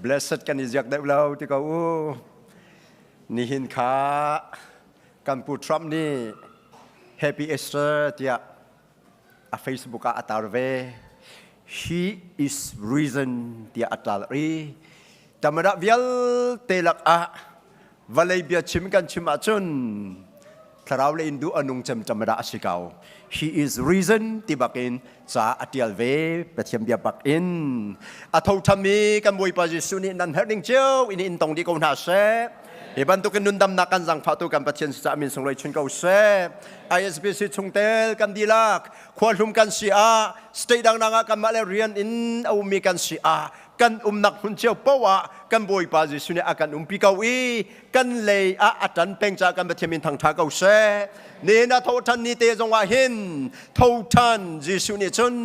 blessed kan i ziak deuh lo ti ko u nihin kha kan pu trump nih happy easter tiah a facebook ah a tar ve he is reason tiah a tlar i tamadah vialte lakah Vallei bia chim kan chim ahcun thlarau le in duh a nung cemcem dah a si ko. He is reason ti bakin ca a tial ve Pathian bia bak in a tho tham i kan Bawipa Jesuh nih nan herh ning cio in in tong dih ko hna seh. Hi bantukin nundamnak kan zangfahtu kan Pathian cucaah min sunglawi chun ko seh. ISBC chungtel kan dilak, khua hlum kan si ah, state dang ah kanmah le rian in a ummi kan si ah, kan umnak hmun cio paoh ah kan Bawipa Jesuh nih a kan umpi ko i kan lei ah a tan peng caah kan Pathian min thangtha ko seh nihin a thoṭhan ni te zongah hin thoṭhan Jesuh nih cun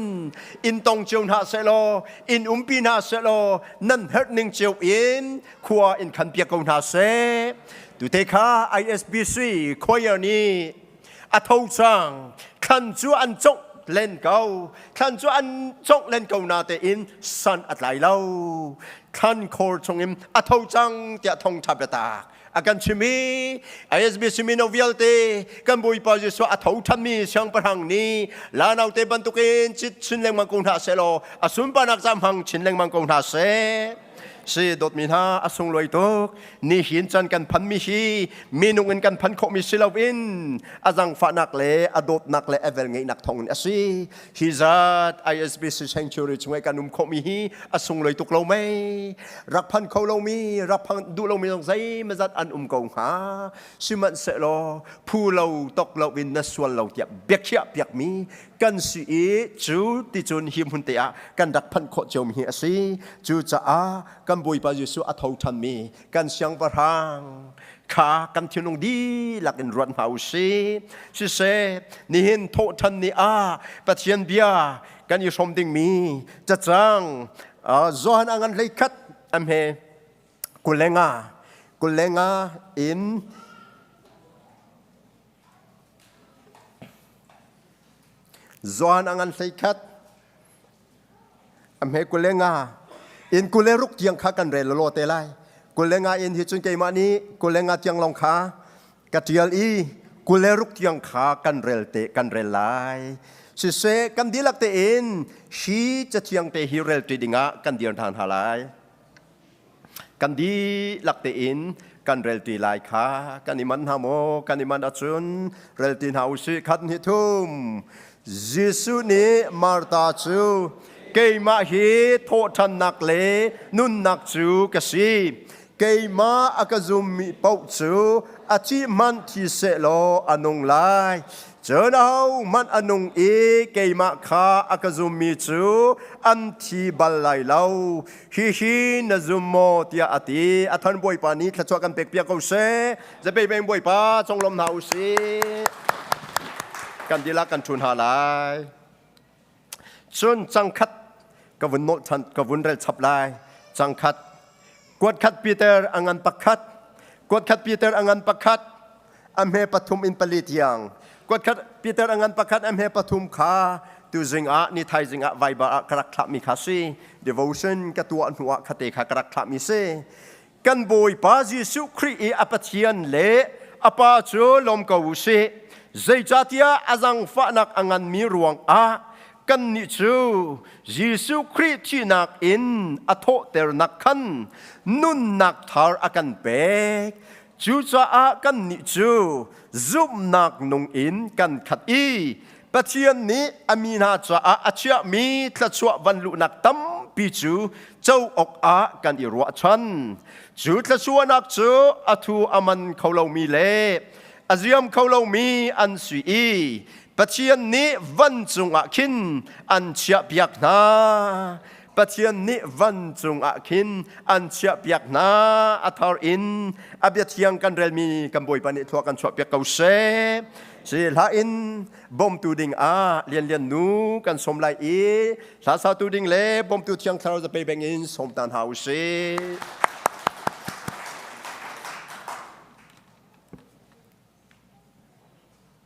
in tong cio hna sehlaw in umpi hna sehlaw nan herh ning cio in khua in khan piak ko hna seh tute kha ISBC choir nih a tho cang thlan cu an congh len ko thlan cu an congh len ko na tein sun a tlai lo thlan khor chungin a tho cang tiah thongtha biatak a kan chimi ISBC mino vialte kan bawipa Jesuh a tho thanmi siangpahrang ni lanau te bantukin cit chin lengmang ko hna se law a sunpanak zamhang chin lengmang ko hna se si dawtmi hna a sunglawi tuk nihin can kan phan mi hi minung in kan phan khawh mi si loin a zangfahnak le a dawtnak le a vel ngeihnak thawng in a si hi zat ISBC sanctuary chungah kan um khawh mi hi a sunglawi tuk lo mei rak phan kho lo mi rak phan duh lo mi zong zeimazat an um ko hnga sihmanhsehlaw phu lo tok lo in na sual lo tiah biakhiah piak mi kan si i cu ti cun hi hmun te ah kan rak phanh khawh ciomi hi a si cucaah kan bawipa jesuh a tho ṭhanmi kan siangpahrang kha kan thinlung dihlak in ruat hna u sih siseh nihin thawhṭhan ni ah pathian bia kan i hrawm dingmi cacang Johan angan hlei khat amhe kulenga kulenga in Zuan angan hlei khat ame kule nga in kule ruk tiang kha kan rel lo te lai kule nga in hi cun keimah nih kule nga tiang long kha ka tial i kule ruk tiang kha kan rel te kan rel lai sise kan dilak te in shi chathiang te hi rel ti dingah kan dir than ha lai kan dihlak tein kan relti lai kha kan i man hna maw kan i man ahcun relti hna u sih khat hnih thum Jesuh nih Martha cu keimah hi thawhṭhannak le nunnak cu ka si keimah a ka zummi paoh cu a cih hmanh thi seh law a nung lai cun ahohmanh a nung i keimah kha a ka zummi cu an thi bal lai lo Hihi na zum maw tiah a ti. A thon Bawipa nih thluachuah kan pek piak ko seh. Zapei peng Bawipa conglawm hna u sih. Kan dilah kan ṭhun hna lai. Cun cangkhat ka vun nolh ṭhan, ka vun rel chap lai. Cangkhat. Kuat khat Peter a ngan pakhat. Kuat khat Peter a ngan pakhat. a hme pathum in pali tiang kuatkhat Peter angan pakhat a hme pathum kha tu zing ah ni thai zing ah vaiba ah ka rak thlahmi kha si devotion ka tuah hnu ah khate kha ka rak thlahmi si kan bawipa Jesuh Khrist i a pathian le a pa cu lom ko u si zeicatiah azang fahnak angan mi ruang ah kan ni cu Jesuh Khrist thihnak in a thawhternak khan nunnak thar a kan pek Cucaah kannih cu zumhnak nung in kan khat i Pathian nih a mi hna caah a chiahmi thluachuah van luhnak tampi cu co awkah kan i ruahchan. Cu thluachuahnak cu a thu a man kho lomi le a ziam kho lomi an si i Pathian nih vancung ah khin an chiahpiak hna. Pathian nih van cungah khin an chiahpiak hna a thar in a bia thiang kan relmi kan bawipa nih thua kan chuahpiak ko seh si hla in bawmtu ding ah lianlian nu kan som lai i hla satu ding le bawmtu thiang thlarau zape beng in som tan hau sih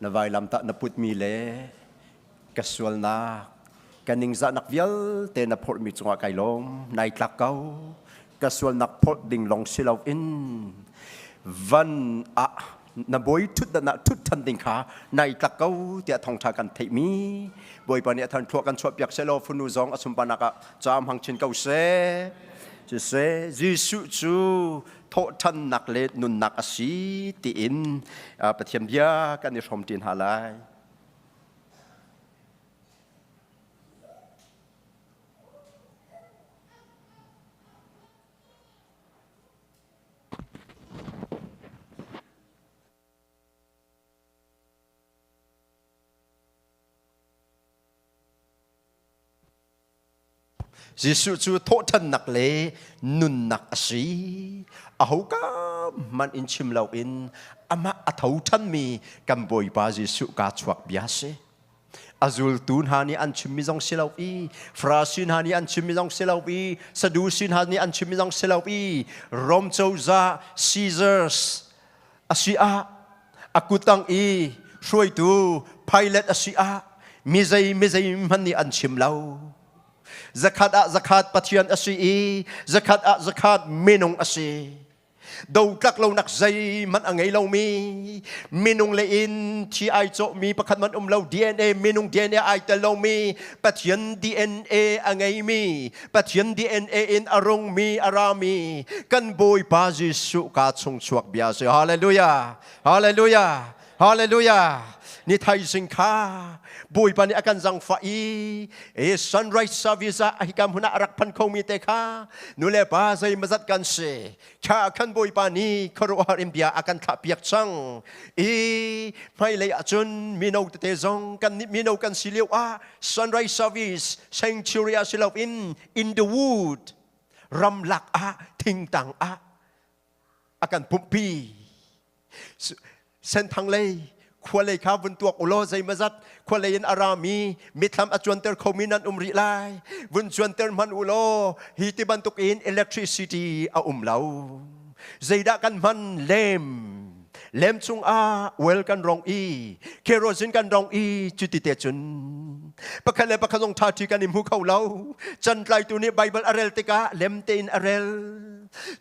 Na vailam tah na putmi le ka sualnak, ka ningzahnak vialte na phorhmi cungah kai lawm, nai tlak ko. Ka sualnak phorh ding lawng si loin van ah na bawi ṭhutdanah ṭhut ṭhan ding kha nai tlak ko tiah thongṭha kan theihmi bawipa nih a than thluak kan chuahpiak selaw funu zong a sunparnak ah caam hang chin ko seh. Cu seh Jesuh cu thawhṭhannak le nunnak a si tiin Pathian bia kan i hrawmṭi hna lai. Jesuh cu thawhṭhannak le nunnak a si. Ahoka hmanh in chim loin amah a tho ṭhanmi kan Bawipa Jesuh kaa chuak bia a si. A zultu hna nih an chimmi zong si lo i Farasi hna nih an chimmi zong si lo i Sadusi hna nih an chimmi zong si lo i Rom cozah Caesars asi ah a kutang i hruaitu pilot asi ah mizei mizei hman nih an chim lo zakhat ah zakhat pathian asi i zakhat ah zakhat minung asi do tlak lonak zei man a ngei lomi minung le in thi ai cawhmi pakhat man um lo DNA minung DNA ai tel lomi Pathian DNA a ngeimi Pathian DNA in a rungmi a rami kan Bawipa Jesuh ka chungchuak bia si. Hallelujah. Hallelujah. Hallelujah. Ni thaising kha Bawipa nih a kan zangfa i e sunrise service ah hi kam huna a rak phan khomi te kha nule pa zei mazat kan si Cha khan Bawipa nih khuaruahhar in bia a kan thlahpiak cang i hmailei ah cun mino tete zong kan nih mino kan si lio ah sunrise service sanctuary ah si loin in the wood ramlak ah thingtang ah a kan pumhpi senthang lei khua lei kha vun tuak ulaw zeimazat khua lei in arami mithlam acuanter khomi nan um rih lai vun cuanter hman ulaw hi ti bantuk in electricity a um lo zeidah kan hman lem lem chung ah well kan rong i kerosene kan rong i cuti te cun pakhat le pakhat zong tha thi kan i hmu kho lo can tlaitu nih bible a rel tikah lem tein a rel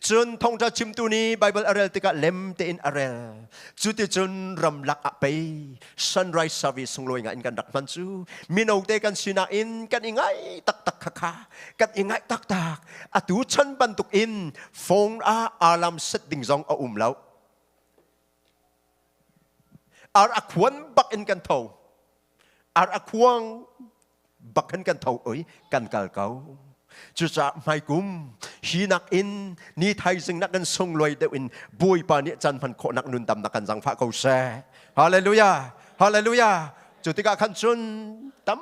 Cun thongtla chimtu nih Baibal a rel tikah lem tein a rel. Cu ti cun ramlak ah pei sunrise service sunglawi nga in kan rak hman cu. Mino te kan sinak in kan i ngai taktak khakha. Kan i ngai taktak. Atu chan bantuk in phone ah alarm set ding zong a um lo. Ar a khuan bak in kan tho. Ar a khuang bakhen kan tho oi kan kal ko cucaah hmaikum hi nak in ni thaizing nak kan sungluai deuh in bawipa nih can hman khawh nak nun dam nak kan zangfah ko se hallelujah hallelujah cu tikah khan cun tam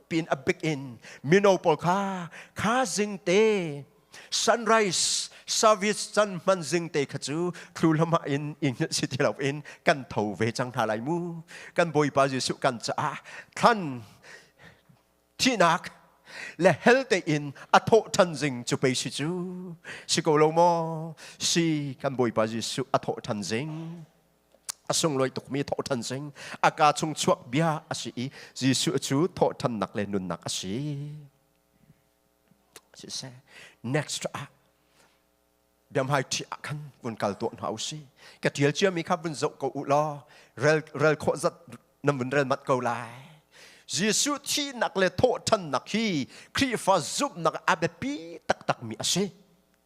pin a bik in mino pawl kha kha zing te sunrise service can man zing te kha cu thlu lama in ingil si ti loin kan tho ve cang hna lai mu kan bawipa jesuh kan caah thlan thihnak le hel tein a thawh ṭhan zing cu pei si cu si ko lo maw si kan bawipa jesuh a thawh ṭhan zing a sunglawi tukmi thawh ṭhan zing a ka chung chuak bia a si i jesuh cu thawh ṭhannak le nunnak a si siseh next ah biamhai ṭhi ah khan vun kal tuah hna u si ka ṭial ciami kha vun zoh ko u law rel rel khawh zat na vun rel mat ko lai Jesuh thihnak le thawhthannak hi Khrihfa zumhnak a biapi taktakmi a si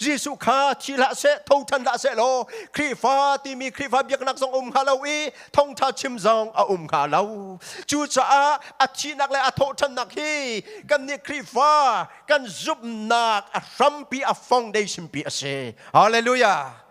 Jesuh kha thi hlah seh, thothan hlah seh law Khrihfa timi Khrihfa biaknak zong um hnga lo i thongtha chim zong a um hnga lo. Cucaah a thihnak le a thawhthannak hi kannih Khrihfa kan zumhnak a hrampi a foundation pi a si. Hallelujah.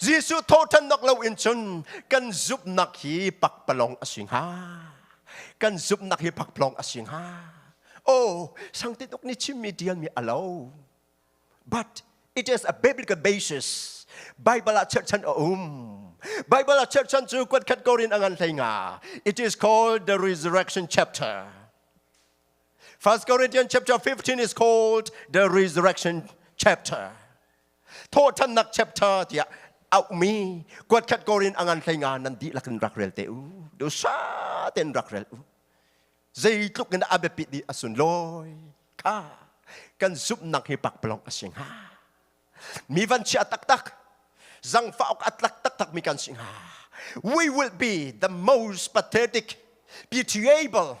Jesuh thawhṭhannak loin cun kan zumhnak hi pakpalawng a si hnga. Kan zumhnak hi pakpalawng a si hnga. Oh, sang tuk nih chimmi ṭialmi a lo. But it is a biblical basis. Bible ah church chan a um. Bible ah church chan cu kuatkhat Korin a ngan hlei nga. It is called the resurrection chapter. 1 Corinthians chapter 15 is called the resurrection chapter. Thawhthannak chapter tiah aumi kuatkhat korin angan thlenga nan di lakin rak rel te u. Du sa ten rak rel u. Zei tluk in abiapit di asun loi. Ka kan zupnak hi pak pelong asing ha. Mi van si atak tak. Zang faok atlak tak tak mi kan sing ha. We will be the most pathetic, be able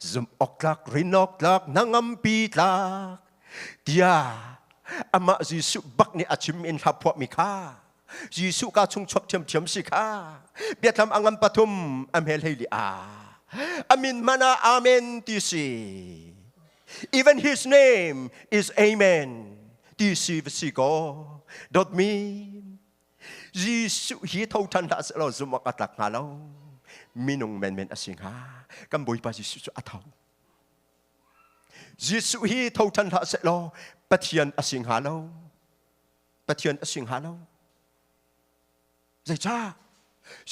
zumhawktlak rinawktlak nangampi tlak tia amah Jesuh bak nih a chim in hla phuah mi kha Jesuh ka chung chuak thiam thiam si kha biathlam angam pathum amhel hei li a amin mana amen ti si even his name is amen ti si va si ko dot mean Jesuh hi tho ṭhan hlah seh law zumh awk a tlak hnga lo minung menmen a si hnga kan Bawipa Jesuh cu a tho Jesuh hi tho ṭhan hlah seh law Pathian a si hnga lo Pathian a si hnga lo zeicah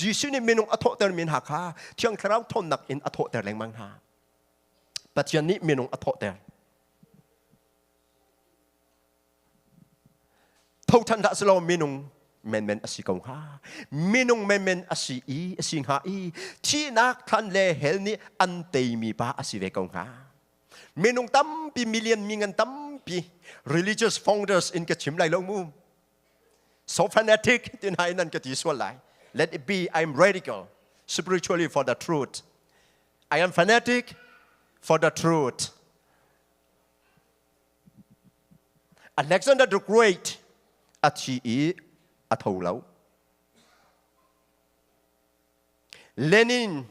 Jesuh nih minung a thawhtermi hna kha thiang thlarau ṭhawnnak in a thawhter lengmang hna Pathian nih minung a thawhter Thoṭhan dah silaw minung menmen asi ko hnga. Minung menmen asi i, asi hnga i, thihnak thlan le hell nih an teimi pa asi ve ko hnga. Minung tampi, million mingan tampi, religious founders in ka chim lai lo mu. So fanatic tin hai nan ka ti sual lai. Let it be, I'm radical, spiritually for the truth. I am fanatic for the truth. Alexander the Great a thi i a tho lo. Lenin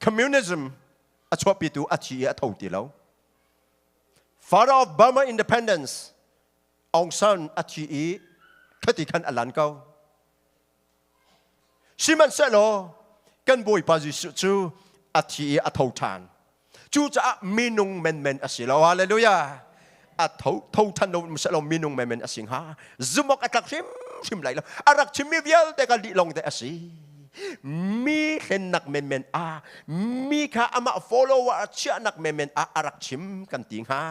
communism a chuahpitu a thi i a tho ti lo. Father of Burma independence Aung San a thi i khati khan a lan ko. Sihmanhsehlaw kan Bawipa Jesuh cu a thi i a tho ṭhan. Cucaah minung menmen a si lo. Hallelujah! A tho, tho ṭhan lo sehlo minung menmen a si hnga. Zumhawk a tlak hrimhrim lai lo. A rak chimmi vialte ka lih lawng te a si. Mi hlennak menmen ah, mi kha amah follower a chiahnak menmen ah a rak chim kan ti hnga.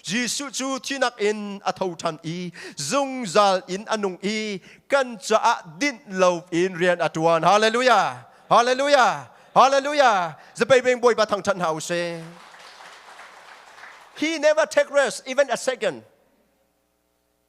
Jesuh cu thihnak in a tho ṭhan i zungzal in a nung i kan caah dinh loin rian a ṭuan. Halleluja! Halleluja! Halleluja! Zapebeng Bawipa thangṭhat hna u sih. He never take rest even a second.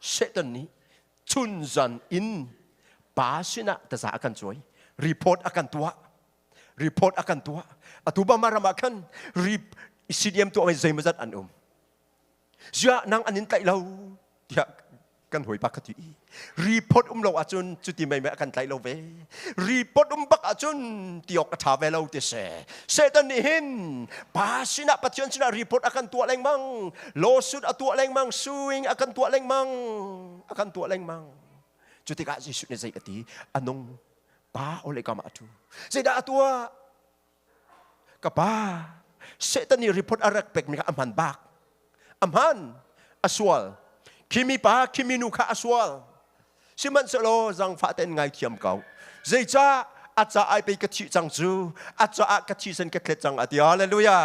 Satan nih chunzan in pa sinah taza a kan cuai report a kan tuah report a kan tuah atu bama ram ah khan CDM tuah mai zeimazat an um zia nang an in tlaih lo tiah kan hawi pa ka ti report um lo ahcun cuti mai mai a kan tlaih lo ve report um bak ahcun tiawk a ṭha ve lo ti si Satan nih hin pa sinah Pathian sinah report a kan tuah lengmang lawsuit a tuah lengmang suing a kan tuah lengmang a kan tuah lengmang cu tikah Jesuh nih zei a ti anung pa ole kam atu zeidah a tuah ka pa Satan i report a rak pekmi kha a hman bak a hman a sual khimi pa khimi nu kha a sual sihmanhsehlaw zangfah tein ngaithiam ko zeicah a caah pei ka thih cang cu a caah ka thisen ka thlet cang a ti halleluja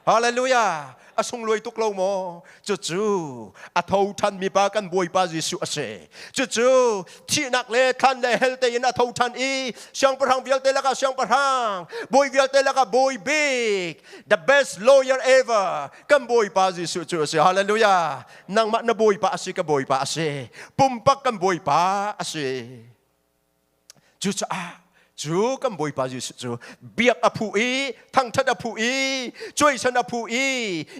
Hallelujah! A sungluai tuk lo maw? Cucu a tho ṭhanmi pa kan Bawipa Jesuh a si. Cucu thihnak le thlan le hell tein a tho ṭhan i siangpahrang vialte lakah siangpahrang, bawi vialte lakah bawi bik, the best lawyer ever, kan Bawipa Jesuh cu a si. Hallelujah! Nangmah na Bawipa a si, ka Bawipa a si. Pumpak kan Bawipa a si. Cucaah cu kan Bawipa Jesuh cu biak a phu i thangṭhat a phu i cuaisen a phu i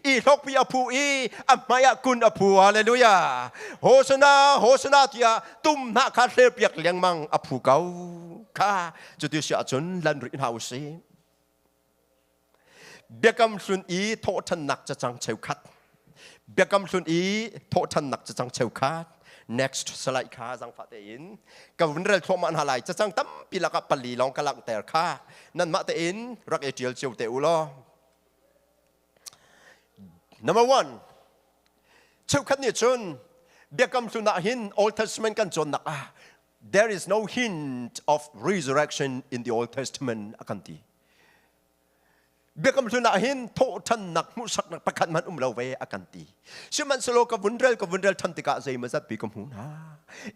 i hlokpi a phu i a hmaiah kun a phu hallelujah hosana hosana tiah tum hna kha thlerpiak lengmang a phu ko kha cuti si ahcun lan rih hna u sih Biakam hlun i thawhṭhannak cacang cheukhat. Biakam hlun i thawhṭhannak cacang cheukhat. Next salai kha zangfah tein ka vun rel thluahmah hna lai cacang tampi lakah pali lawng ka langhter kha nanmah tein rak i ṭial cio te u law number one cheukhat nih cun biakam hlun ah hin old testament kan cawnnak ah there is no hint of resurrection in the Old Testament a kan ti. Biakam hlun ah hin thawhthannak hmuhsaknak pakhat man um lo ve a kan ti. Sihmanhsehlaw ka vun rel ka vun rel than tikah zei mazat pi ka hmu hna.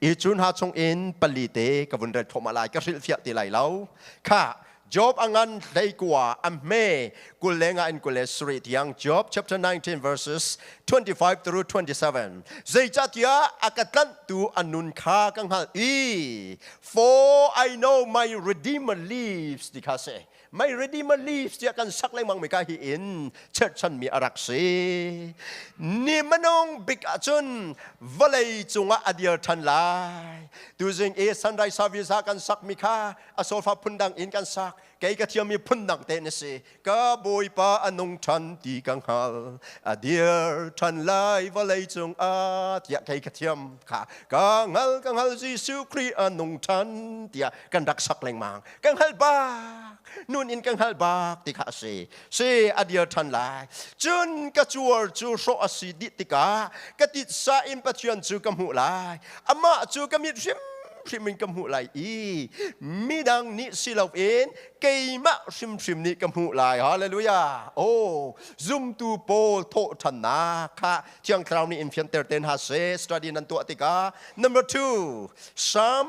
I cun ha chung in pali te ka vun rel thoma lai ka hrilfiah ti lai lo. Kha Job a ngan hleikua a hme kul lengah in kul le sarih tiang Job chapter 19 verses 25 through 27 zeicahtiah a ka tlanhtu a nun kha ka hngalh i for I know my redeemer lives ti kha si my redeemer lives tiah kan sak lengmang mi ka hi in cherchan mi a rak si ni manong bik ahcun vawlei cungah a dir than lai tuzing i sunrise service ah kan sak mi kha a sofa phun dang in kan sak kei ka thiammi phun dang te na si ka bawipa a nung ṭhan ti ka hngal a dir ṭhan lai vawlei cung a tiah kei ka thiam kha ka hngal ka hngal Jesuh Khrih a nung ṭhan tiah kan rak sak lengmang ka hngal bak nun in ka hngal bak ti kha a si si a dir ṭhan lai cun ka cuar cu hrawh a si dih tikah ka titsa in pathian cu ka hmuh lai amah cu ka mit hrimhrim in ka hmuh lai i midang nih si loin keimah hrimhrim nih ka hmuh lai hallelujah oh zumtu pawl thawhṭhannak kha thiang thlarau nih in fianter te hna seh study nan tuah tikah number two psalm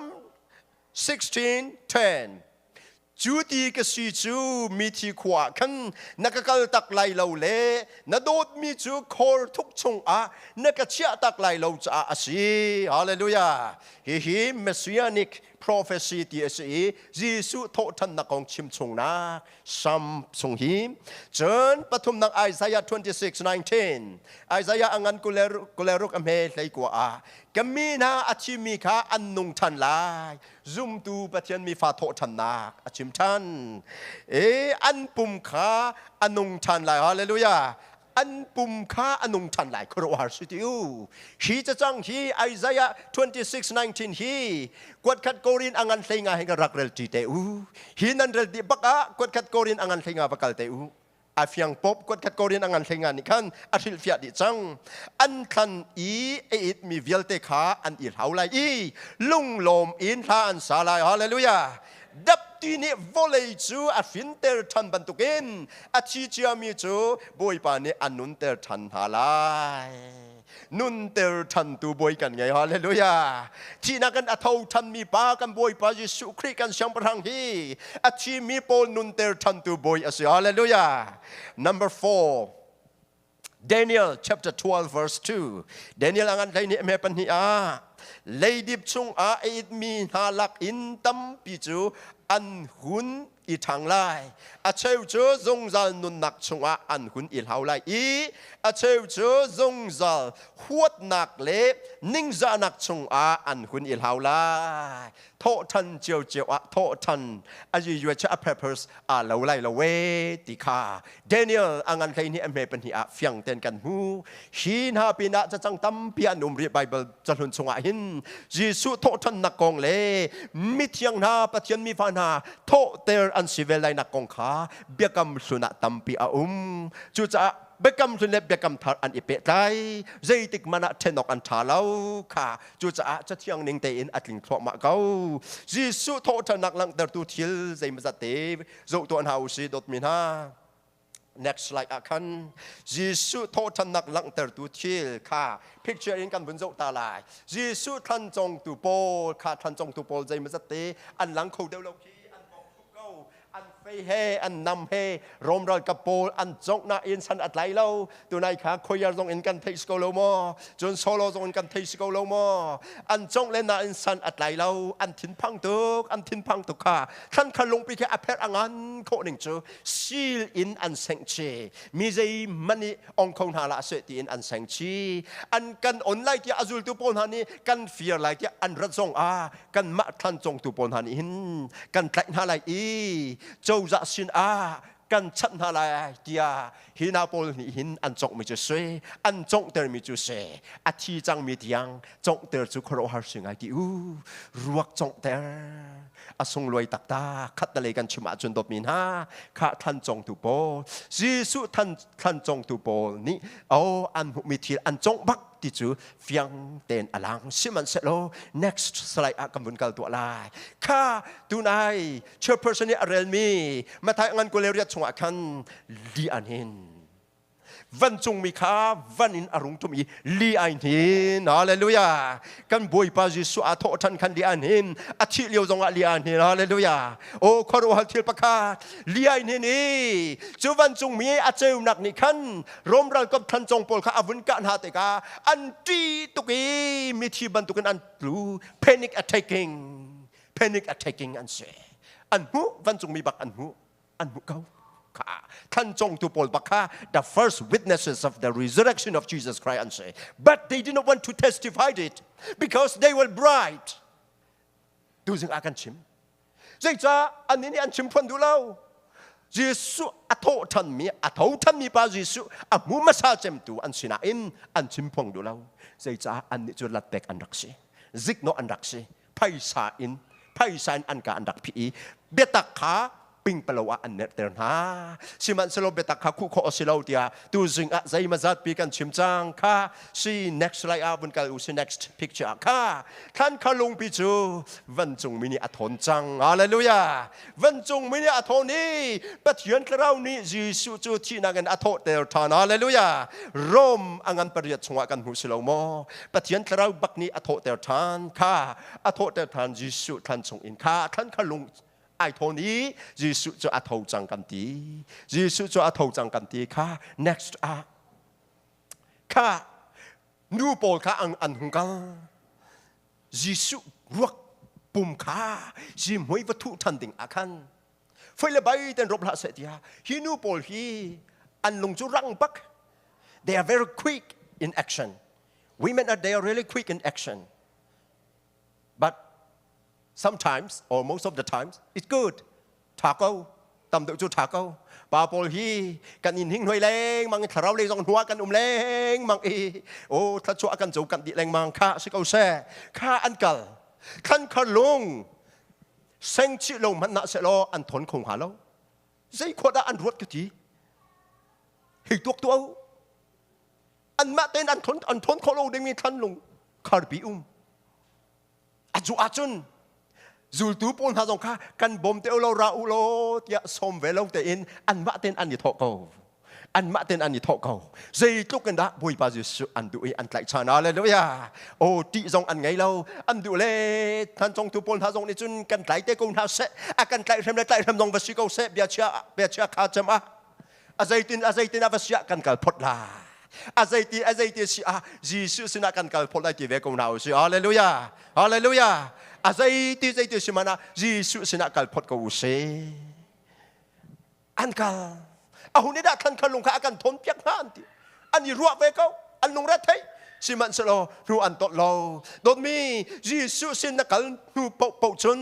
16:10 Cu ti ka si cu mithi khua ah khan na ka kal tak lai lo le na dawtmi cu khor thuk chungah na ka chiah tak lai lo caah a si. Hallelujah. Hihi messianic prophecy ti a si i Jesuh thawhṭhannak kong chimchungnak sam sung hi cun pathumnak Isaiah 26 19 Isaiah a ngan kuleruk kuleruk a hme hlei kua ah ka mi hna a thimi kha an nung ṭhan lai zumtu Pathian mi fa thawhṭhannak a chim ṭhan e an pum kha a nung ṭhan lai hallelujah an pum kha a nung ṭhan lai khuaruahhar si ti u hi cacang hi Isaiah 26:19 hi kuatkhat korin a ngan hlenga hin ka rak rel ṭi te u hi nan rel ti bak ah kuatkhat korin a ngan hlenga va kal te u a fiang pop kuat khat korean angan hlei nga nih khan a hrilhfiah dih cang an thlan i a it mi vialte kha an i hlau lai i lunglawm in hla an sa lai hallelujah dapti nih vawlei cu a hrinter ṭhan bantukin a thi cia mi cu bawipa nih a nunter ṭhan hna lai nunter ṭhantu bawi kan ngei hallelujah thihnak kan atho ṭhanmi pa kan bawipa Jesuh Khrih kan siangpahrang hi a thimi pawl nunter ṭhantu bawi a si hallelujah number 4 Daniel chapter 12 verse 2 Daniel angan hlei nih me pahnih ah leidip chung ah a itmi hna lak in tampi cu an hun i ṭhang lai a cheu cu zungzal nunnak chungah an hun i hlau lai i a cheu cu zungzal huatnak le ningzahnak chungah an hun i hlau lai thawhṭhan cio cio ah thawhṭhan a yuacha a peppers aa lo lai lo we ti kha Daniel a ngan hlei nih a hme pahnih ah fiang ten kan hmu. Hi hna pinah cacang tampi an um rih Baibal cahlun chungah hin Jesuh thawhṭhannak kong le mithiang hna Pathian mi fa hna thawhter an si ve lainak kong kha biakam hlun ah tampi a um. Cucaah biakam hlun le biakam thar an i pehtlai zeitik man ah ṭhenawk an ṭha lo kha cucaah cathiang ning tein a tling thluahmah ko Jesuh thawhṭhannak langhtertu thil zeimazat te zoh tuah hna u si dawtmi hna next slide ah khan Jesuh thawhthannak langhtertu thil kha picture in kan vun zoh ta lai Jesuh thlancongtu pawl kha thlancongtu pawl zeimazate an lang kho deuh lo khi an mawh ko an fei he an nam he Rom ralkap pawl an congh nain san a tlai lo tunai kha khoiar zong in kan theih si ko lo maw cun solo zong in kan thei si ko lo maw an congh le na in san atlai lo an thinphang tuk an thinphang tuk kha thlan khan lungpi ke apher angan khawh ning cu sil in an seng che mi zei mani ong kho hna la se tiin an seng chi an kan on lai tia azultu pawl hna nih kan fir lai tia an rat zong a kan mah thlan congtu pawl hna nih hin kan tlaih hna lai i cozah sin ah kan chanh hna lai tiah hi nau pawl nih hin an conghmi cu si an conghtermi cu si a thi cangmi tiang conghter cu khuaruahhar si ngai ti u ruak conghter a sungluai taktak khattalei kan chim ahcun dawtmi hna kha thlan congtu pawl Jesuh than thlan congtu pawl nih o an hmuhmi thil an congh bak ti cu fiang tein a lang sihmanhsehlaw next slide ah kan vun kal tuah lai kha tunai chairperson nih a relmi Mathai ngan kuleriat chungah khan li an hin vancungmi kha van in a rung tum i li ai hin hallelujah kan bawipa jesuh a thawh ṭhan khan li an hin a thih lio zongah li an hin hallelujah o khuaruahhar thil pakhat li ai hin i cu vancungmi a ceunak nih khan Rom ralkap than cong pawl kha a vun kah hna tikah an ṭi tuk i mithi bantukin an tlu panic attacking panic attacking an si an hmuh vancungmi bak an hmuh an hmuh ko kha than cong tu pawl bak kha the first witnesses of the resurrection of Jesus Christ an say but they did not want to testify it because they were bright tu zing a kan chim zeicah an nih an chim phan du lo Jesuh a tho than mi a tho than mi pa Jesuh a hmu masa cem tu an sina in an chim phong du lo zeicah an nih cu latpek an rak si zik no an rak si phaisa in phaisa in an ka an rak phi i biatak kha pingpalo ah an nerter hna sihmanhsehlaw biatak kha khuh khawh a si lo tiah tu zing ah zeima zat pi kan chim cang kha see next lai ah vun kal u see next picture ah kha thlan kha lungpi cu vancungmi nih a thawn cang hallelujah vancungmi nih a thawn i Pathian thlarau nih Jesuh cu thihnak in a thawhter ṭhan hallelujah Rom a ngan pariat chungah kan hmuh si lo maw Pathian thlarau bak nih a thawhter ṭhan kha a thawhter ṭhan Jesuh thlan chung in kha thlan kha lung ai thawn i Jesuh cu a tho cang kan ti Jesuh cu a tho cang kan ti kha next ah kha nu pawl kha an hung kal Jesuh ruak pum kha si hmui va thuh ṭhan ding ah khan foi le bai ten rop hlah seh tiah hi nu pawl hi an lung cu rang bak they are very quick in action women are they are really quick in action but sometimes or most of the times it's good ṭha ko tam deuh cu ṭha ko pa pawl hi kan in hing hnuai lengmang i thlarau lei zong hnuah kan um lengmang i o thluachuah kan co kan dih lengmang kha si ko seh kha an kal khan khar lung seng chih lo hmanh na se law an thon kho hnga lo zei khua dah an ruat ka ti hi tuak tu an mah tein an thon an thon khawh lo dingmi thlan lung kharpi um a zuh ahcun zultu pawl hna zong kha kan bawm te ulaw ra u law tiah sawm ve lo tein anmah tein an i thawh ko anmah tein an i thawh ko zeitluk in dah bawipa jesuh an duh i an tlaih chan hallelujah oh ṭih zong an ngei lo an duh le than congtu pawl hna zong nih cun kan tlai te ko hna seh a kan tlaih hrem le tlaih hrem zong va si ko seh biachia biachia kha cem ah a zeitin a zeitin ah va siah kan kal phot la a zeiti a zeiti si ah Jesuh sinah kan kal phot lai ti ve ko hna u si hallelujah hallelujah a zeiti zeiti si mana Jesuh sinah kal phot ko u si an kal a hun i dah khan khan lung kha a kan thawn piak hna an ti an i ruah ve ko an lungre thei sihmanhsehlaw hlu an tawlh lo dawtmi Jesuh sin na kal hnu paohpaoh cun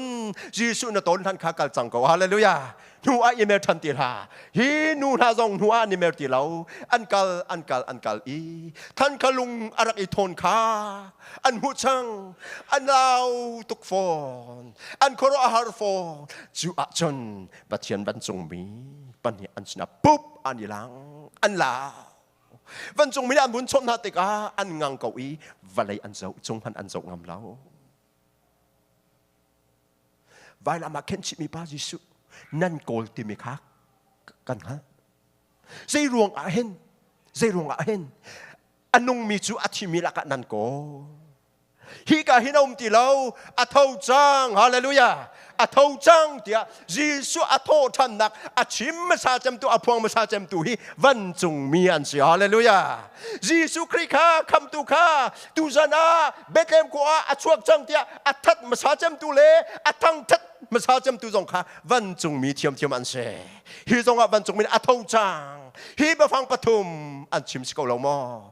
Jesuh na tawn hlan kha kal cang ko hallelujah hnu ah i mer ṭhan ti hlah hi nu hna zong hnu ah an i mer ti lo an kal an kal an kal i thankha lung a rak i thawn kha an hmuh chang an lau tuk fawn an khuaruah har fawn cu ah cun Pathian vancungmi pahnih an sinah pup an i lang an la vancungmi nih an vun chawnh hna tikah an ngang ko i vawlei an zoh cung hmanh an zoh ngam lo vailam ah khen chihmi pa Jesuh nan kawl timi kha kan hngalh zei ruang ah hin zei ruang ah hin a nungmi cu a thimi lakah nan kawl hika hin a um ti lo a tho cang hallelujah a tho cang tiah Jesuh a thawhthannak a chim hmasa cemtu a phuang hmasa cemtu hi vancungmi an si hallelujah Jesuh Khrih kha khamtu kha tuzan ah Bethlehem khua ah a chuak cang tiah a that hmasa cemtu le a thangthat hmasa cemtu zong kha vancungmi thiamthiam an si hi zongah vancungmi a tho cang hi biafang pathum an chim si ko lo maw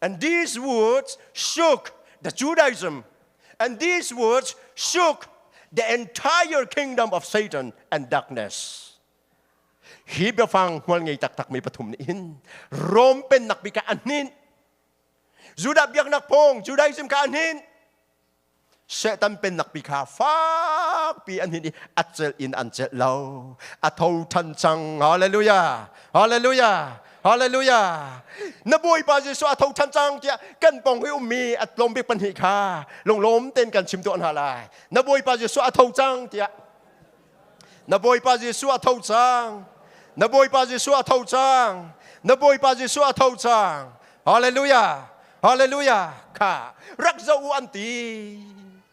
And these words shook the Judaism. And these words shook the entire kingdom of Satan and darkness. Hi biafang hmual ngei taktak mi pathum ni in Rome pen nak bi ka anhin Judah biaknak pong Judaism ka anhin Satan pennak pi kha fakpi an hin i a celh in an celh lo. A tho ṭhan cang. Hallelujah. Hallelujah. Hallelujah. Na Bawipa Jesuh a tho ṭhan cang tiah kan pong hi ummi a tlawm bik pahnih kha lunglawm tein kan chim tuah hna lai. Na Bawipa Jesuh a tho cang tiah Na Bawipa Jesuh a tho cang. Na Bawipa Jesuh a tho cang. Na Bawipa Jesuh a tho cang. Hallelujah. Hallelujah. Kha rak zoh u an ti.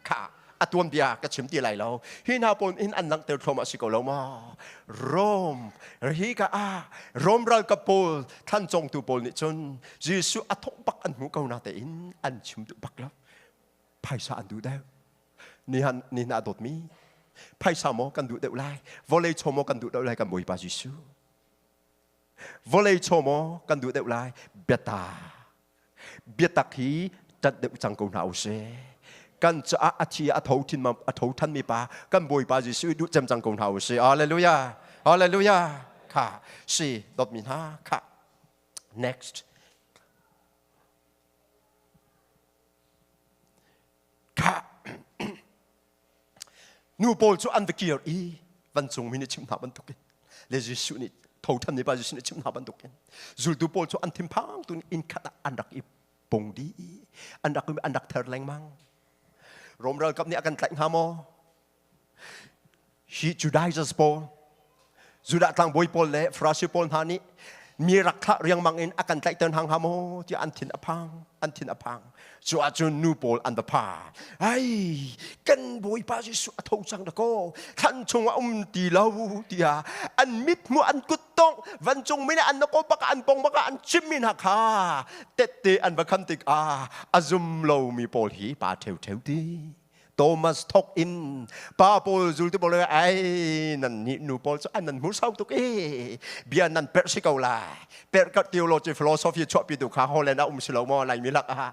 Kha a tuanbia ka chim ti lai lo. Hi hna pawl in an langhter thlawm a si ko lo maw? Rom hi ka ah Rom ralkap pawl thlan congtu pawl nih cun Jesuh a thawh bak an hmu ko na tein an chim duh bak lo. Phaisa an duh deuh. Nihan ni na dawtmi phaisa maw kan duh deuh lai. Vawlei chaw maw kan duh deuh lai kan Bawipa Jesuh. Vawlei chaw maw kan duh deuh lai biata. Biatak hi tat deuh cang ko hna usih. Kan caah a thi a tho thin a tho than mi pa kan Bawipa Jesuh duh cem cang ko hna usih. Hallelujah. Hallelujah. Kha si dot mi hna kha next nu pawl cu an va kir i vancungmi nih chim hna bantukin le Jesuh nih thothan nih pa Jesuh nih chim hna bantukin zultu pawl cu an thinphang tun inn khat ah an rak i pung dih an rak an rak ther lengmang Rom ralkap nih a kan tlaih hnga maw Hi Judaizers pawl, Judah tlangbawi pawl le Farasi pawl hna nih mi rak thlah riangmang in a kan tlaihter hna hnga maw tiah an thin a phang an thin a phang cu ahcun nu pawl an va pha ai kan bawipa jesuh a tho cang dakaw thlan chung a um ti lo tiah an mithmuh an kuttongh vancung min an nakaw baka an pong baka an chimmi hna kha tette an va kham tikah a zum lomi pawl hi pa ṭheu ṭheu ti Thomas thok in pa pawl zultu pawl ai nan nih nu pawl cu an nan hmu sau tuk e bia nan perh si ko la perh ka theology philosophy chuahpi tu kha Holland ah um si lo maw lai mi lak ha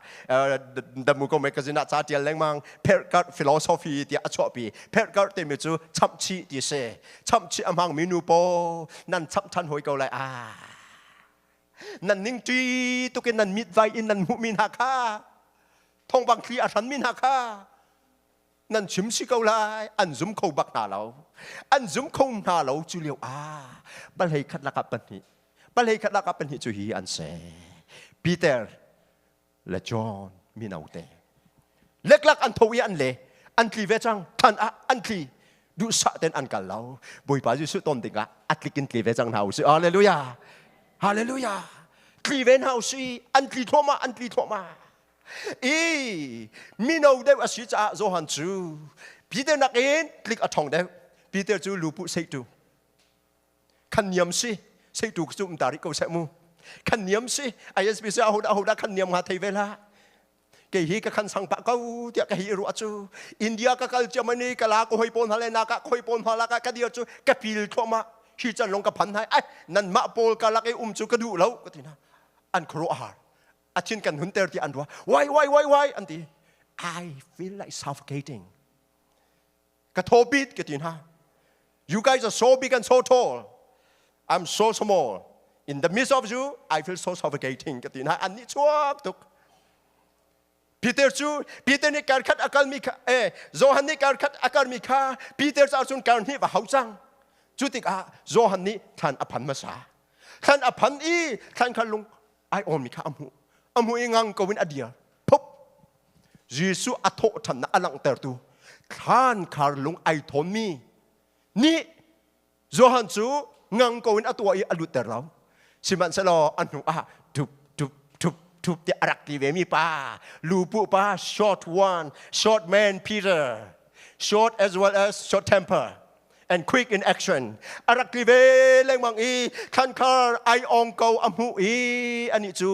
da mu ko magazine ah ca tial lengmang perh ka philosophy ti a chuahpi perh ka te mi cu chamchi ti se chamchi amang mi nu pawl nan chap than hoi ko lai a nan ning ti tukin nan mit vai in nan hmuh mi hna kha thongvang thli a hranmi hna kha nan chim si ko lai an zum kho bak hna lo an zum kho hna lo cu lio ah palhei khat lakah pahnih palhei khat lakah pahnih cu hi an se Peter le John minote leklak an tho i an le an tli ve cang than ah an tli duhsah ten an kal lo bawipa jesuh ton dingah atlikin tli ve cang hna usih hallelujah hallelujah tli ve hna usih an tli thluahmah an tli thluahmah i mino deuh a si caah Johan cu Peter nakin tlik a ṭhong deuh Peter cu lu puh seitu khan niam si seitu cu um ta rih ko seh mu khan niam si ISBC ahodah ahodah khan niam nga thei ve la kei hi ka khan sang pah ko tiah ka hi ruah cu India ka kal Germany ka la ka hoi pawl hna le na ka hoi pawl hna la ka ka dir cu ka pil thluahmah hi can long ka phan hai ai nan mah pawl ka lak i um cu ka duh lo ka tina an khuaruah har a thin kan hun ter tiah an ruah why why why why an ti I feel like suffocating ka thaw bit ka ti hna you guys are so big and so tall I'm so small in the midst of you I feel so suffocating ka ti hna an nih chuak tuk Peter cu Peter nih karkhat a kalmi kha eh Johan nih karkhat a kalmi kha Peter cu ahcun kar hnih va hau cang cu tikah Johan nih thlan a phan hmasa thlan a phan i thlan kha lung aiawhmi kha a hmuh a hmuh i ngang ko in a dir phuk Jesuh a thawhṭhannak a langhtertu thlan khar lung ai thawnmi nih Johan cu ngang ko in a tuah i a lutter lo sihmanhsehlaw a hnu ah ṭup ṭup ṭup ṭup tiah a rak ti vemi pa lupu pa short one short man Peter short as well as short temper and quick in action a rak tli ve lengmang i thlankhar ai ong ko a hmuh i ani cu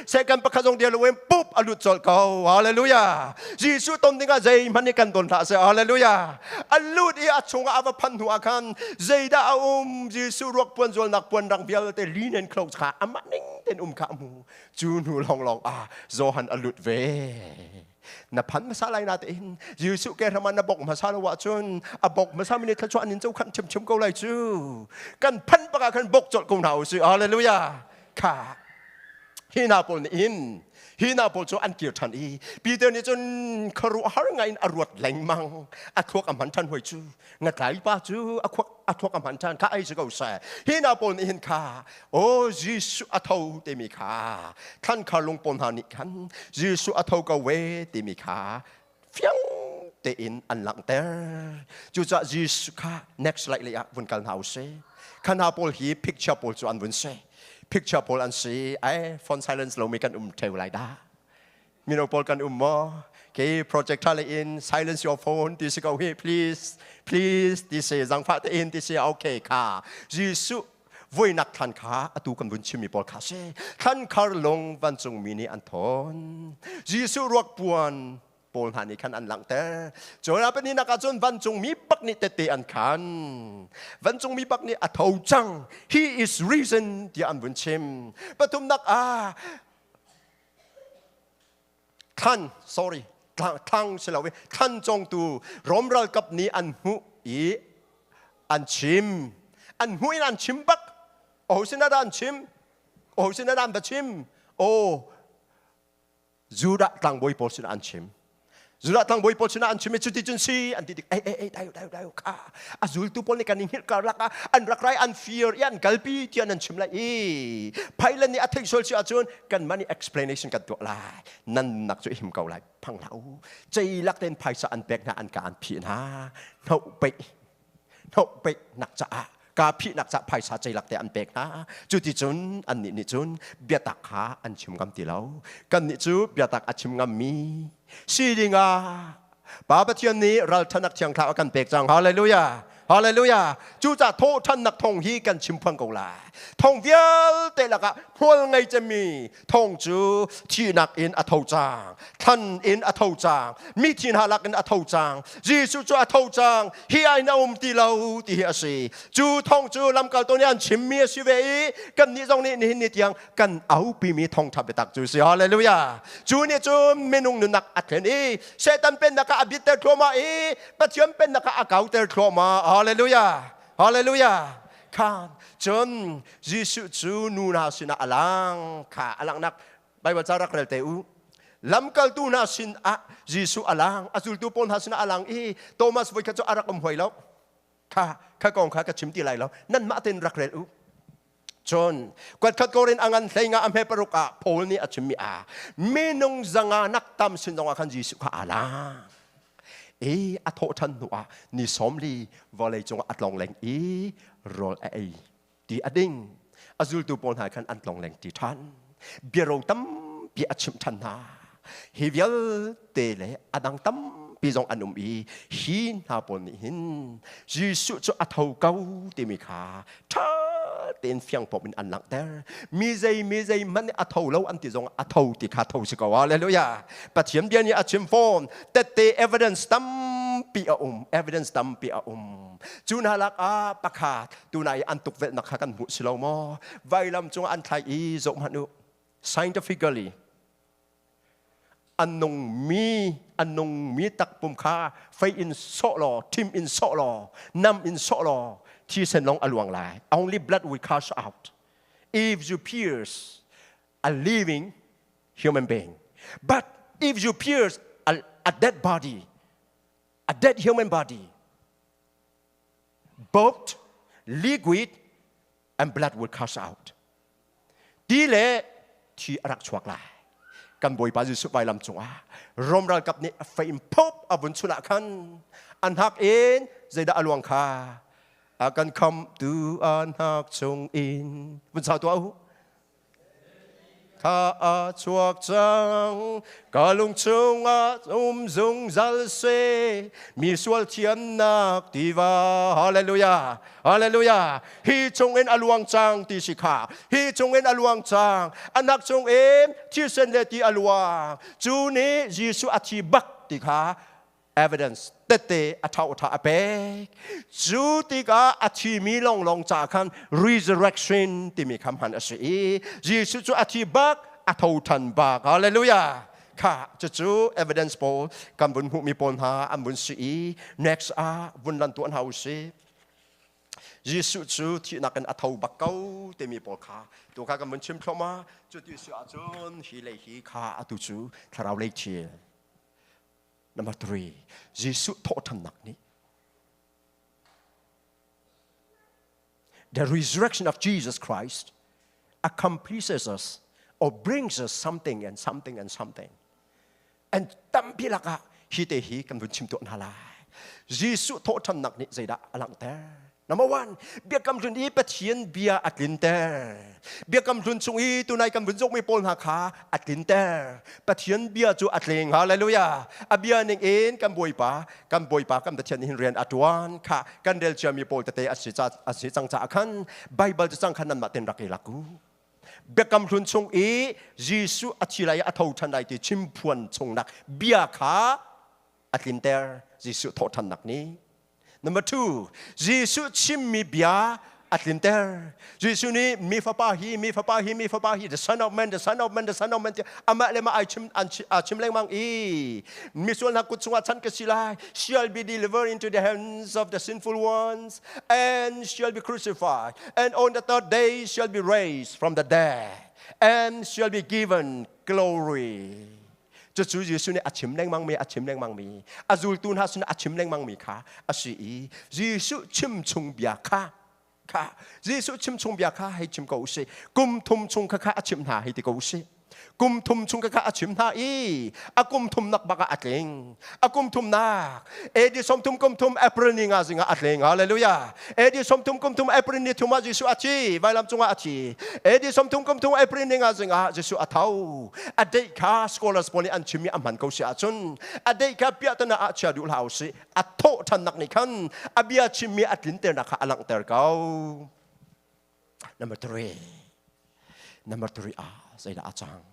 second pakhat zong dia lo in pup a lut colh ko hallelujah Jesuh ton dingah zeihmanh nih kan don hlah seh hallelujah a lut i a chungah a va phan hnu ah khan zeidah a um Jesuh ruak puan zualnak puan rang vialte linen clothes kha amah ning ten um kha a hmu cu hnu lawng lawng ah Johan a lut ve na phan hmasa lai na te hin jesuh ke raman na bok hmasa lo wa chun a bok hmasa mi ni thla chuan in cho khan chim chim ko lai chu kan phan baka khan bok chol ko na u si hallelujah kha hi na pol ni in hi na pol chu an kir than i peter ni chun kharu har ngai in a ruat lengmang a thuak a man than hoi chu na tlaipa cu a khuak a thuak a hman ṭhan kha ei si ko seh hi hna pawl nih hin kha o Jesuh a tho timi kha thlan khar lung pawl hna nih khan Jesuh a tho ko ve timi kha fiang tein an langhter cucaah Jesuh kha next slide lei ah vun kal hna u si kha hna pawl hi picture pawl cu an vun si picture pawl an si ai phone silence lomi kan um theo lai dah mino pawl kan um maw kei project tha le in silence your phone ti si ko hi please please ti si zangfah te in ti si okay kha jesuh voinak thlan kha atu kan vun chimmi pawl kha si thlan khar lung vancungmi nih an thawn jesuh ruak puan pawl hna nih khan an langhter cawla pahnih nak ah cun vancungmi pak nih tete an khan vancungmi pak nih a tho cang he is risen tiah an vun chim pathum nak ah thlan sorry thlang si lo i thlan congtu Rome ralkap nih an hmuh i an chim an hmuh in an chim bak aho sinah dah an chim aho sinah dah an va chim o Judah tlangbawi pawl sinah an chim Zulathang bawi pawl sinah an chim i cuti cun si an ti tik ei ei ei dai dai dai kha a zultu pawl nih kan i hngilh karlak ah an rak rai an fir i an kalpi tiah nan chim lai i phailan nih a theih sual si ahcun kanmah nih explanation kan tuah lai nannak cu him ko lai phang hlah u ceilak tein phaisa an pek hna an ka an phih hna hno pei no pe nak caah ka phi nak caah phaisa ceilak te an pek hna cuti cun an nih nih cun biatak kha an chim ngam ti lo kan nih cu biatak a chim ngam mi si ding ah Pa Pathian nih ralṭhanak thiangthla a kan pek cang hallelujah hallelujah cucah thawhṭhannak thong hi kan chim phang ko la thong vialte lakah hmual ngei cemi thong cu thihnak in a tho cang thlan in a tho cang mi thin ha lak in a tho cang Jesuh cu a tho cang hi ai na um ti lo ti hi a si cu thong cu lamkaltu nih an chimmi a si ve i kannih zong nih nihin ni tiang kan aupi mi thong ṭha biatak cu si hallelujah cu nih cun minung nunak a thlen i Satan pennak ah a bitter thluahmah i Pathian pennak ah a kauter thluahmah hallelujah hallelujah khan cun Jesuh cu nu hna sinah a lang kha a langhnak Baibal ca rak rel te u lamkaltu hna sinah Jesuh a lang a zultu pawl hna sinah a lang i Thomas voi khat cu a rak um hoi lo kha kha kong kha ka chim ti lai lo nanmah tein rak rel u cun kuatkhat korin a ngan hleinga a hme paruk ah Paul nih a chimmi a minung zanga nak tam sin zongah khan Jesuh kha a lang i a thawhṭhan hnu ah ni sawmli vawlei cung a tlongleng i rawl a ei ti a ding a zultu pawl hna khan an tlongleng ṭi ṭhan biarong tampi a chimh ṭhan hna hi vialte le a dang tampi zong an um i hi hna pawl nih hin Jesuh cu a tho ko timi kha ṭha tein fiang pom in an langhter mi zei mi zei hmanh a tho lo an ti zong a tho ti kha tho si ko hallelujah pathian bia nih a chim fawn tette evidence tampi a um evidence tampi a um cu hna lak ah pakhat tunai an tukvelhnak kha kan hmuh si lo maw vailam cung an thlai i zoh hmanh u scientifically an nungmi an nungmi takpum kha fei in sawh law thim in sawh law nam in sawh law thisen lawng a luang lai only blood will cast out if you pierce a living human being but if you pierce a, a dead body a dead human body boat liquid and blood would cast out. Ti le thi a rak chuak lai. Kan Bawipa Jesuh vailam cungah Rom ralkap nih a faim phop a vun chulah khan an hak in zeidah a luang kha a kan khamtu an hak chung in vun sau tuah u Thla a chuak cang ka lung chungah um zungzal se mi sual thiamnak tiva hallelujah hallelujah hi chungin a luang cang ti si kha hi chungin a luang cang anak chungin thisen le ti a luang cu nih Jesuh a thi bak ti kha evidence tete a thau tha a pek cu tikah a thimi lawnglawng ca khan resurrection timi kha hman a si i Jesuh cu a thi bak a tho than bak hallelujah kha cucu evidence pawl kan vun hmuhmi pawl hna an vun si i next ah vun lan tuan hau si Jesuh cu thihnak in a tho bak ko timi pawl kha tu kha kan vun chim thloma cu ti si ahcun hi le hi kha atu cu thlarau lei thil Number three, Jesuh thawhthannak nih the resurrection of Jesus Christ accomplishes us or brings us something and something and something. And tampi lakah hi te hi kan vun chim tuah hna lai. Jesuh thawhthannak nih zeidah a langhter? Number one, biakam hlun i Pathian bia a tlinter. Biakam hlun chung i tunai kan vun zokmi pawl hna kha a tlinter. Pathian bia cu a tleng. Hallelujah. A bia ning in kan bawipa, kan bawipa kan Pathian nih hin rian a tuan kha kan rel ciami pawl tete a si, a si cang caah khan Bible cu cang khan nanmah ten rak i laku. Biakam hlun chung i Jesuh a thi lai i a tho ṭhan lai ti chimphuan chungnak bia kha a tlinter. Jesuh thawhṭhannak nih Number two, Jesuh chimmi bia a tlinter. Jesuh nih mi fapa hi, mi fapa hi, mi fapa hi, the son of man, the son of man, the son of man, amah le mah ai chim aa chim lengmang i misual hna kut chungah chan ka si lai. Shall be delivered into the hands of the sinful ones and shall be crucified and on the third day shall be raised from the dead and shall be given glory. Cucu Jesuh nih a chim lengmangmi a chim lengmangmi a zultu hna sinah a chim lengmangmi kha a si i Jesuh chimchungbia kha kha Jesuh chimchungbia kha hei chim ko usih kum thum chung kha kha a chimh hna hei ti ko usih kum thum chung kha kha a chim hna i a kum thum nak bak ah a tling a kum thum nak edi som thum kum thum april ni nga zinga a tle nga hallelujah edi som thum kum thum april ni thuma jesu a thi vailam cunga a thi edi som thum kum thum april ni nga zinga jesu a thau a dei kha scholars pawl nih an chimi a man ko si ahcun a dei kha pia tana a chia duh hlau si a tho than nak ni khan a bia chimmi a tlin ter na kha a langh ter ko number three number three ah zeidah a cang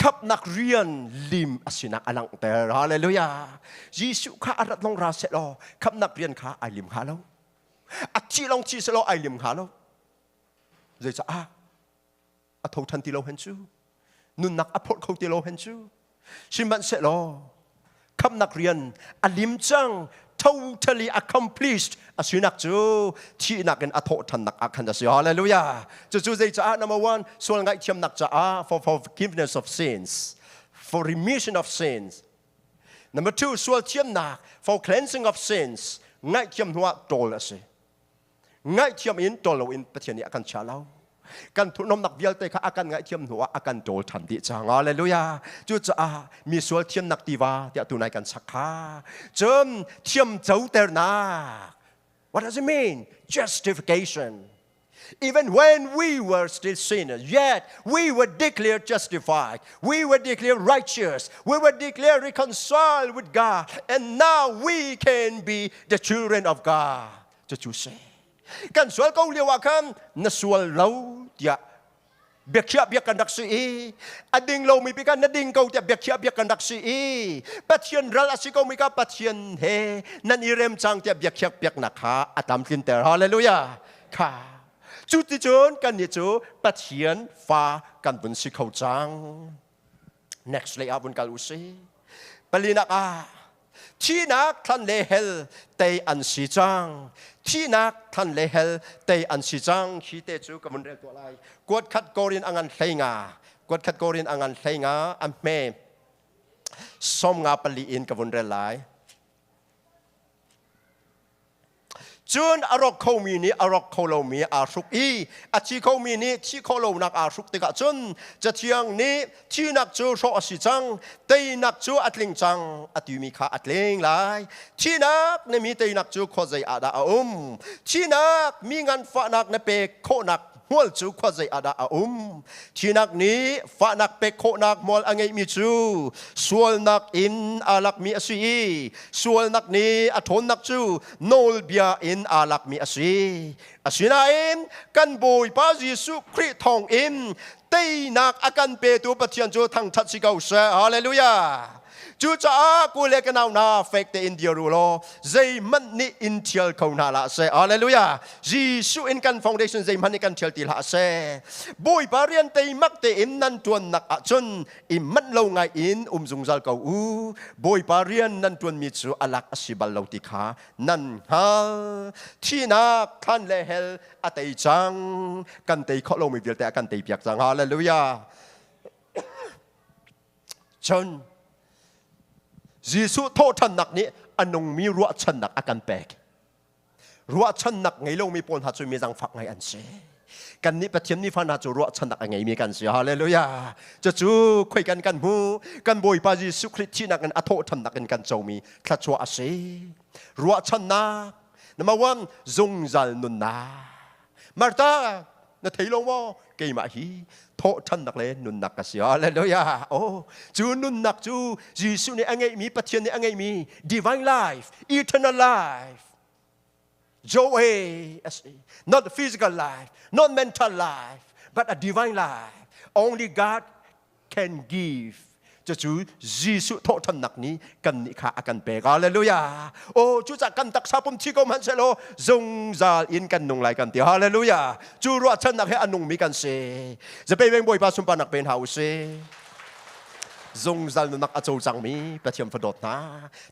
khapnak rian lim a sinak a langhter hallelujah jesuh kha a rat long ra set law khapnak rian kha ai lim kha lo a ci long ci selaw ai lim kha lo zeicah a tho ṭhan ti lo hen cu nunnak a phorh kho ti lo hen cu sihmanhsehlaw khamnak rian a lim cang totally accomplished a sinak cu thihnak in a thawhṭhannak ah khan a si hallelujah cucu zei caah number one sual ngaihthiamnak caah for forgiveness of sins for remission of sins number two sual thiamnak for cleansing of sins ngaihthiam hnuah ṭawl a si ngaihthiam in tol loin Pathian nih a kan chia lo kan thurhnomnak vialte kha a kan ngaihthiam hnu ah a kan ṭawl ṭhan dih cang Hallelujah cucaah mi sual thiamnak tiva tiah tunai kan sak kha cun thiam coternak what does it mean justification Even when we were still sinners, yet we were declared justified, we were declared righteous, we were declared reconciled with God, and now we can be the children of God. cucu si kan sual ko lio ah khan na sual lo tiah biakhiah biak kan rak si i a ding lomi bik na ding ko tiah biakhiah biak kan rak si i pathian ral a si ko mi ka pathian he nan i rem cang tiah biakhiak piaknak kha a tam tlin ter hallelujah kha cu ti cun kan ni cu pathian fa kan vun si kho cang next lay ah vun kal u si palinak ah thihnak thlan le hel tei an si cang thihnak thlan le hel tei an si cang khi te cu ka mun rel tuah lai kuat khat korin angan hlenga kuat khat korin angan hlenga a hme som nga pali in ka vun rel lai Cun a rawk khomi nih a rawk kho lomi aa hruk i a thi khomi nih thi khawh lonak aa hruk tikah cun cathiang nih thihnak cu hrawh a si cang teinak cu a tling cang a timi kha a tling lai thihnak na mi teinak cu khawzei ah dah a um thihnak mi nganfahnak na pek khawhnak Hmual cu khua zei ah dah a um? Thinak nih fahnak pek khawhnak hmual a ngeihmi cu sualnak in aa lakmi a si i sualnak nih a ṭhawnnak cu nawlbia in aa lakmi a si. Asinain kan Bawipa Jesuh Khrih thawng in teinak a kan petu Pathian cu thangṭhat si ko seh! Halleluja! Cucaah kule ka nau na fek tein dir u law zeihmanh nih in thial kho hna la seh. Hallelujah. Jesuh in kan foundation zeihmanh nih kan thial ti la seh. Bawipa rian teimak tein nan tuannak ahcun i manh lo ngai in um zungzal ko u. Bawipa rian nan tuanmi cu alak asi bal lo ti kha nan hngal. Thihnak thlan le hell a tei cang. Kan tei khawh lomi vialte a kan tei piak cang. Hallelujah. Cun Jesuh thawhṭhannak nih a nungmi ruahchannak a kan pek. Ruahchannak ngei lomi pawl hna cu mizangfak ngai an si. Kannih Pathian mi fa hna cu ruahchannak a ngeimi kan si. Halleluja! Cucu khoi kan kan hmu. Kan Bawipa Jesuh Khrih thihnak in a thawhṭhannak in kan comi thluachuah a si. Ruahchannak, number one, zungzal nunnak. Martha, na thei lo maw keimah hi thawhthannak le nunnak ka si halleluja oh cu nunnak cu Jesuh nih a ngeihmi Pathian nih a ngeihmi divine life eternal life Joy not physical life not mental life but a divine life only God can give cucu Jesuh thawhthannak ni kan nih kha a kan pek hallelujah oh cucah kan taksa pum thi ko hmanhsehlaw zungzal in kan nung lai kan ti hallelujah cu ruahchannak he a nungmi kan si zapei veng bawipa sunparnak pen hna usih zungzal nunak a co cangmi pathian fa dawt hna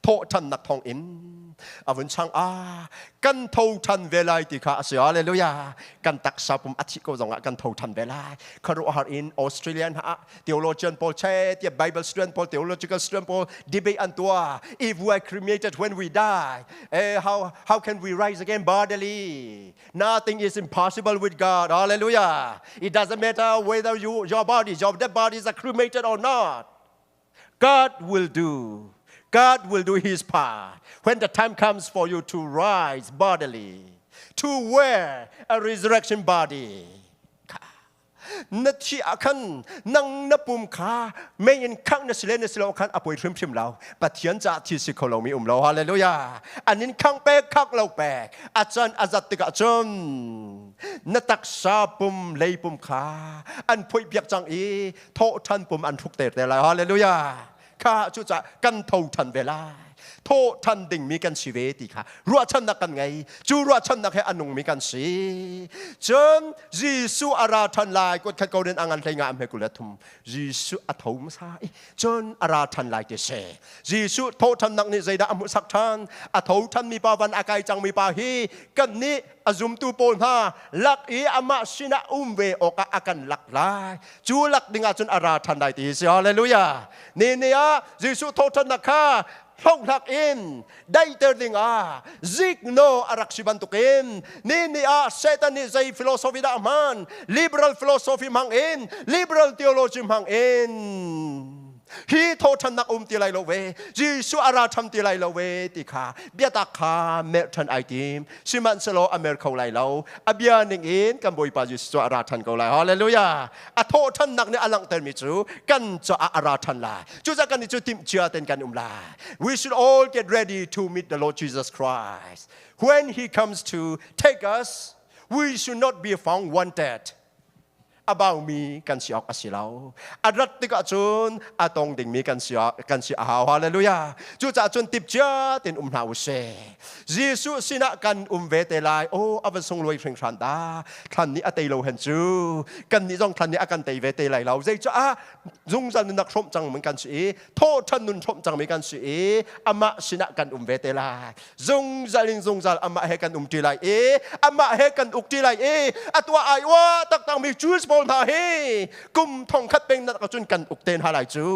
thawhthannak thong in a vun chang ah kan tho ṭhan ve lai ti kha a si. Hallelujah. Kan taksa pum a thih ko zongah kan tho ṭhan ve lai. Khuaruahhar in Australian ha theologian pawl che tiah Bible student pawl theological student pawl debate an tua if we are cremated when we die eh, how how can we rise again bodily nothing is impossible with God hallelujah it doesn't matter whether you your body your dead body is cremated or not God will do. God will do his part when the time comes for you to rise bodily, to wear a resurrection body. na thi ah khan nang na pum kha mei in khang na sile na silo khan a poi hrim hrim lo pathian ca thi si kho lo mi um lo hallelujah an in khang pek khak lo pek a chan a zat tikah cun na taksa pum lei pum kha an poi biak cang i thawhthan pum an hruk te te lai hallelujah kha cu ca kan tho than ve lai tho than dingmi kan si ve ti kha ruahchannak kan ngei cu ruahchannak he a nungmi kan si cun Jesuh a ra than lai kut khat ko den angan hlei nga am he kule thum Jesuh a tho masa i cun a ra than lai ti se Jesuh tho than nak nih zeidah a hmuh sak than a tho than mi pa van a kai cang mi pa hi kan nih a zumtu pawl hna lak i amah sinah um ve awkah a kan lak lai cu lak dingah cun a ra ṭhan lai ti si hallelujah ni ni ah Jesuh thawhṭhannak kha hlonghnak in daihter dingah zikno a rak si bantukin ni ni ah Satan nih zei philosophy dah hman liberal philosophy hmang in liberal theology hmang in hi thawthannak um ti lai lo ve Jesuh a ra tham ti lai lo ve ti kha biatak kha merh than ai tim sihmanhsehlaw a mer kho lai lo a bia ning in kan bawipa Jesus cu a ra than ko lai hallelujah a thawhthannak nih a langhtermi cu kan caah a ra than lai cucah kan i cu timh cia ten kan um lai we should all get ready to meet the Lord Jesus Christ when he comes to take us we should not be found wanted a baumi kan si awk a si lo. A rat tikah cun a tong dingmi kan si, kan si a hau. Hallelujah! Cucaah cun tipciat in um hna u sih. Jesuh sinah kan um ve te lai. O, a van sungluai hringhran ta. Thlan nih a tei lo hen cu. Kan nih zong thlan nih a kan tei ve te lai lo. Zei cu ah zungzal nunnak hrawmh cang mun kan si i thawhṭhan nun hrawmh cangmi kan si i amah sinah kan um ve te lai zungzal in zungzal amah he kan um ṭi lai i amah he kan uk ṭi lai i a tuah ai ua taktakmi Jews pawl hna hi kum thongkhat peng nak cun kan uk te hna lai cu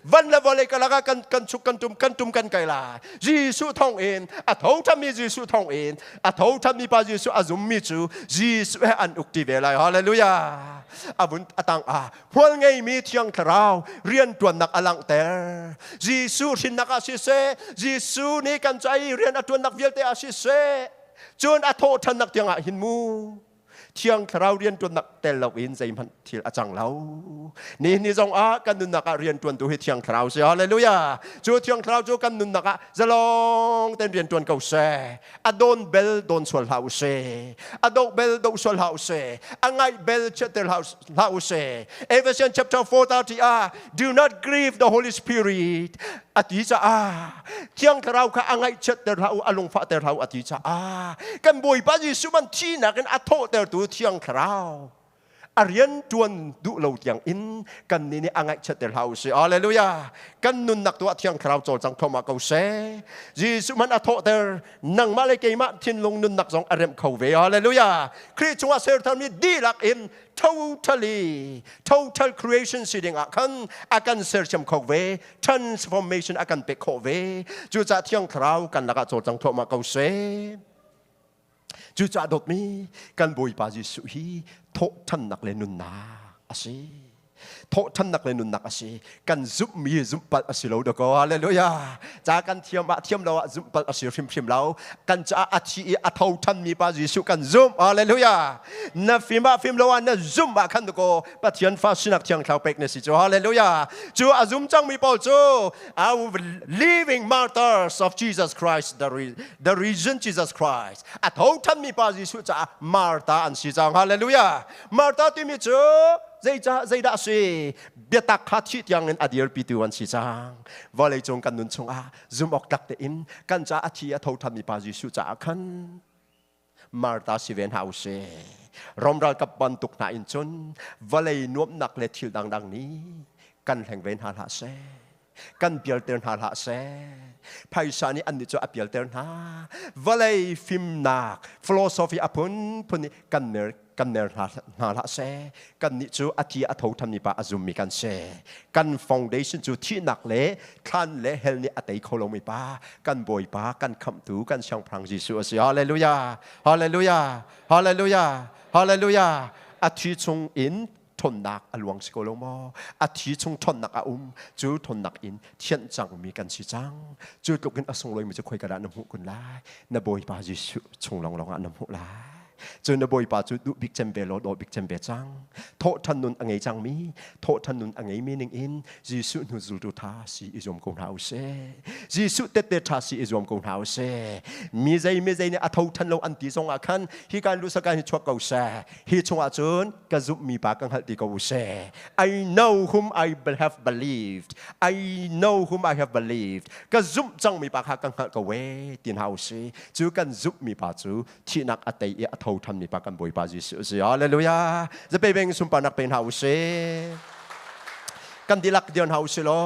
van le vawlei ka lakah kan kan chuk kan tum kan tum kan kai lai Jesuh thong in a thoṭhanmi Jesuh thong in a thoṭhanmi pa Jesuh a zummi cu Jesuh he an uk ṭi ve lai hallelujah a vun a tang ah Hual ngeimi thiang thlarau rianṭuannak a langhter. Jesuh hrinnak ah siseh, Jesuh nih kan ca i rian a ṭuannak vialte ah siseh, cun a thawhṭhannak tiangah hin mu thiang thlarau rianṭuannak tel loin zeihmanh thil a cang lo. Ni ni zongah kan nunnak ah rianṭuantu hi thiang thlarau si. Halleluja! Cu thiang thlarau cu kan nunnak ah zalong ten rian tuan ko seh a don bel don sual hlah u se a dok bel dok sual hlah u se a ngai bel chetter hlah u se Ephesians chapter 4:30 ah do not grieve the Holy Spirit a ti ca ah thiang thlarau kha a ngaih chetter hlah u a lungfah ter hlah u a ti ca ah kan bawipa Jesuh man thi nakin a thawh tertu thiang thlarau a rian ṭuan duh lo tiang in kannih nih a ngaihchiat te hlah u sih. Hallelujah. Kan nunnak tu ah thiang thlarau cawlcang phom ah ko seh. Jesuh man a thawhter nangmah le keimah thinlung nunnak zong a remh kho ve. Hallelujah. Khrih chungah sertharmi dihlak in totally total creation si ding ah khan a kan sersiam kho ve transformation a kan pek khawh ve cucah thiang thlarau kan lakah cawlcang thawhma ko seh Cucaah dawtmi kan Bawipa Jesuh hi thawhthannak le nunnak a si. Thawhthannak le nunnak a si. Kan zumhmi zumhpalh a si lo dakaw. Hallelujah. Ca kan thiam ah thiam lo ah zumhpalh a si hrimhrim lo. Kan caah a thi i a thothanmi Pa Jesuh kan zumh. Hallelujah. Na fim ah fim lo ah na zumh ah khan dakaw Pathian fa sinak thiang thlau pek na si cu. Hallelujah. Cu a zum cangmi pawl cu our living martyrs of Jesus Christ the the risen Jesus Christ a thothanmi pa Jesuh caah Martha an si cang hallelujah Martha timi cu zeicah zeidah a si biatak kha thih tiangin a dirpitu an si cang vawleicung kan nun chungah zumh awk tak tein kan caah a thi a thothanmi pa Jesuh caah khan Martha si ve hna u si. Rom ralkap bantuk hna in cun vawlei nuamhnak le thil dangdang nih kan hleng ve hna hlah seh. Kan pialter hna hlah seh. Phaisa nih annih cu a pialter hna. Vawlei fimnak philosophy a phunphun nih kan mer kan ner hna, hna hlah seh kannih cu a ti a tho ṭhanmi pa a zummi kan si kan foundation cu thihnak le thlan le hell nih a tei kho lomi pa kan bawipa kan khamhtu kan siangpahrang Jesuh a si hallelujah hallelujah hallelujah hallelujah a thi chung in ṭhawnnak a luang si ko lo maw? A thi chung ṭhawnnak a um, cu ṭhawnnak in thianh cangmi kan si cang. Cu tluk in a sunglawi mi cu khoi ka dah na hmuh kun lai? Na Bawipa Jesuh chung lawnglawng ah na hmuh lai. Cun na Bawipa cu duh bik cem ve law daw bik cem ve cang. Thawhṭhan nun a ngei cangmi, thawhṭhan nun a ngeimi ningin Jesuh hnu zultu ṭha si i zuam ko hna u sih. Jesuh tette ṭha si i zuam ko hna u sih. Mi zei mi zei nih a tho ṭhan lo an ti zongah khan hi kan lu sakan hi chuak ko seh. Hi chungah cun ka zumhmi pa ka hngalh ti ko seh. I know whom I have believed. I know whom I have believed. Ka zumh cangmi pa kha ka hngalh ko we ti hna u si. Cu kan zumhmi pa cu thihnak a tei i a tho thanmi pa kan Bawipa Jesuh si. Hallelujah. Zape beng sunparnak pe hna u si. Kan dilak dir hna u si law.